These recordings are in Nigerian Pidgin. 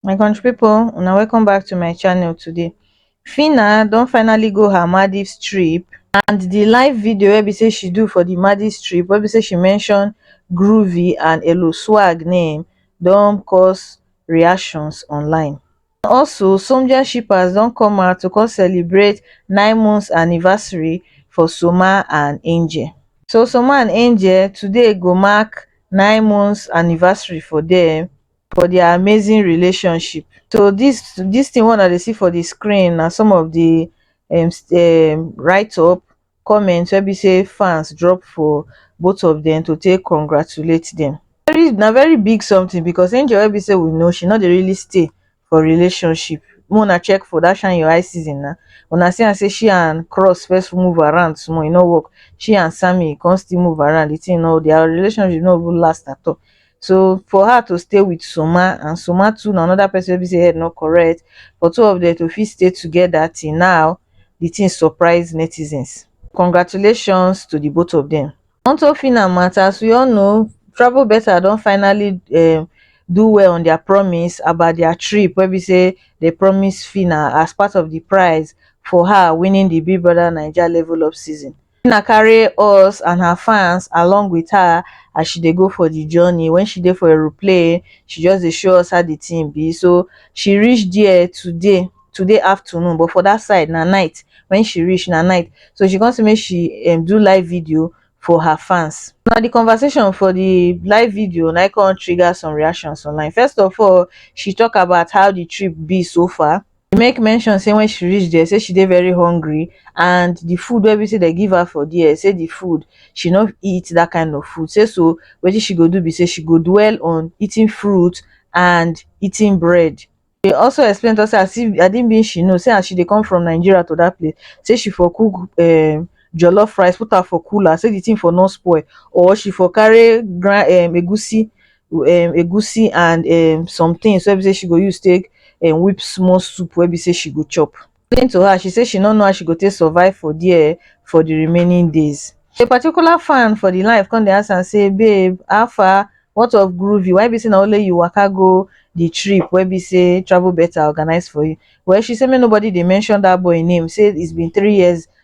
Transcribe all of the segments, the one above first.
my country pipo una welcome back to my channel today Fina don finally go her Maldives trip and the live video wey be say she do for the Maldives trip wey be say she mention Groovy and Elo Swag name don cause reactions online Also, Somja shippers don come out to come celebrate nine months anniversary for Soma and Angel. So Soma and Angel today go mark nine months anniversary for them for their amazing relationship. So this this thing one that they see for the screen are some of the um, um, write up comment wey be say fans drop for both of them to take congratulate them. Very, na very big something because Angel wey be say we know she no dey really stay for relationship. Make una check for that shine your eye season na una see am say she and Cross first move around small e no work. She and Sammy come still move around the thing no their relationship no even last at all. so for her to stay with Soma and Soma too na another person wey be say head no correct for two of them to fit stay together till now the thing surprise netizens congratulations to the both of them. Onto Phyna matter as we all know Travel Better don finally um do well on their promise about their trip wey be say they promise Phyna as part of the prize for her winning the Big Brother Naija Level Up season Christina carry us and her fans along with her as she dey go for the journey. When she dey for aeroplane, she just dey show us how the thing be. So she reach there today, today afternoon, but for that side na night. When she reach na night, so she come say make she um, do live video for her fans. Now the conversation for the live video na come trigger some reactions online. First of all, she talk about how the trip be so far. She make mention say when she reach there, say she dey very hungry and the food wey be say they give her for there, say the food she no eat that kind of food. Say so wetin she go do be say she go dwell on eating fruit and eating bread. She also explain to us say as if I didn't mean she know say as she dey come from Nigeria to that place, say she for cook um jollof rice, put am for cooler, say the thing for no spoil or she for carry grind um egusi um egusi and um some things wey be say she go use take um whip small soup wey be say she go chop. According to her, she say she no know how she go take survive for there for the remaining days. A particular fan for the live come dey ask am say, Babe, how far? What of Groovy? Why be say na only you waka go the trip wey be say Travel Better organize for you? Well, she say make nobody dey mention that boy name, say it's been three years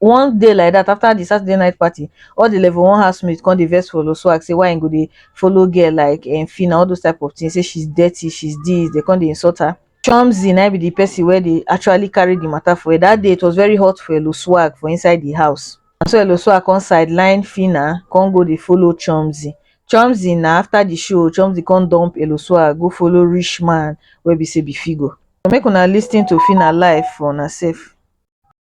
one day like that after the Saturday night party, all the level one housemates come dey vex for Swag say why he go dey follow girl like um, Fina, all those type of things. Say she's dirty, she's this. They come dey insult her. Chomzy na be the person where they actually carry the matter for her. That day it was very hot for Elo Swag for inside the house. And so Elo Swag come sideline Fina, come go dey follow Chomzy. Chomzy na after the show, Chomzy come dump Elo Swag, go follow rich man where be say be Figo. So make una listen to Fina live for una self.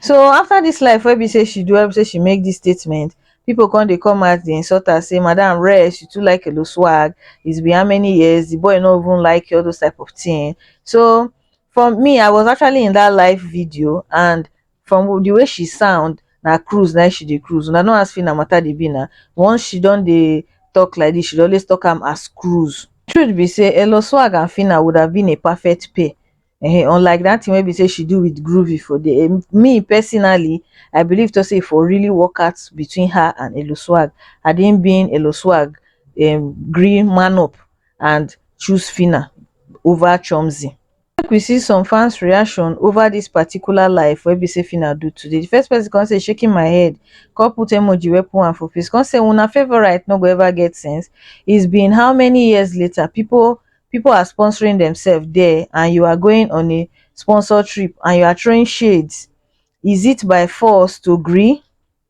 so after this life wey be say she do wey be say she make this statement people come dey come out dey insult her say madam rest you too like elo swag it's been how many years the boy no even like you all those type of thing so for me i was actually in that live video and from the way she sound na cruise na she dey cruise una no ask fina matter dey be na once she don dey talk like this she dey always talk am as cruise truth be say elo swag and fina would have been a perfect pair um unlike that thing wey be say she do with groovy for the um, me personally i believe to say for really work out between her and elo swag had him been elo swag um, green man up and choose fina over chomzi Make we see some fans reaction over this particular live wey be say Fina do today. The first person come say shaking my head, come put emoji wey put am for face, come say una favorite no go ever get sense. It's been how many years later people people are sponsoring themselves there and you are going on a sponsor trip and you are throwing shades. Is it by force to gree?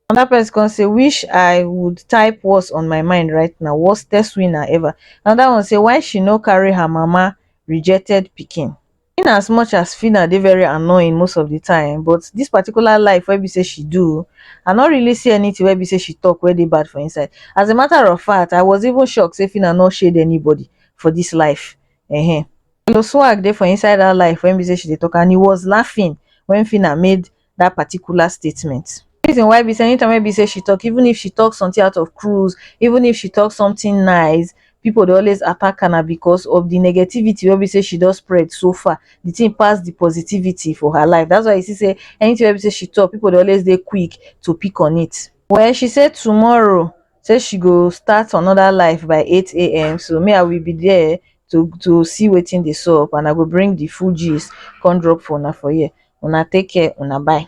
Another person come say wish I would type what's on my mind right now worstest winner ever. Another one say why she no carry her mama rejected pikin. In as much as Fina dey very annoying most of the time but this particular life wey be say she do I no really see anything wey be say she talk wey dey bad for inside. As a matter of fact I was even shocked say Fina no shade anybody for this life. Ehen. Lil swag dey for inside that life wey be say she dey talk and he was laughing when Fina made that particular statement. reason why be say anytime wey be say she talk even if she talk something out of cruise even if she talk something nice people dey always attack her na because of the negativity wey be say she don spread so far the thing pass the positivity for her life that's why you see say anything wey be say she talk people dey always dey quick to pick on it well she say tomorrow say she go start another life by 8am so me i will be there to to see wetin dey sup and i go bring the full gist come drop for una for here una take care una bye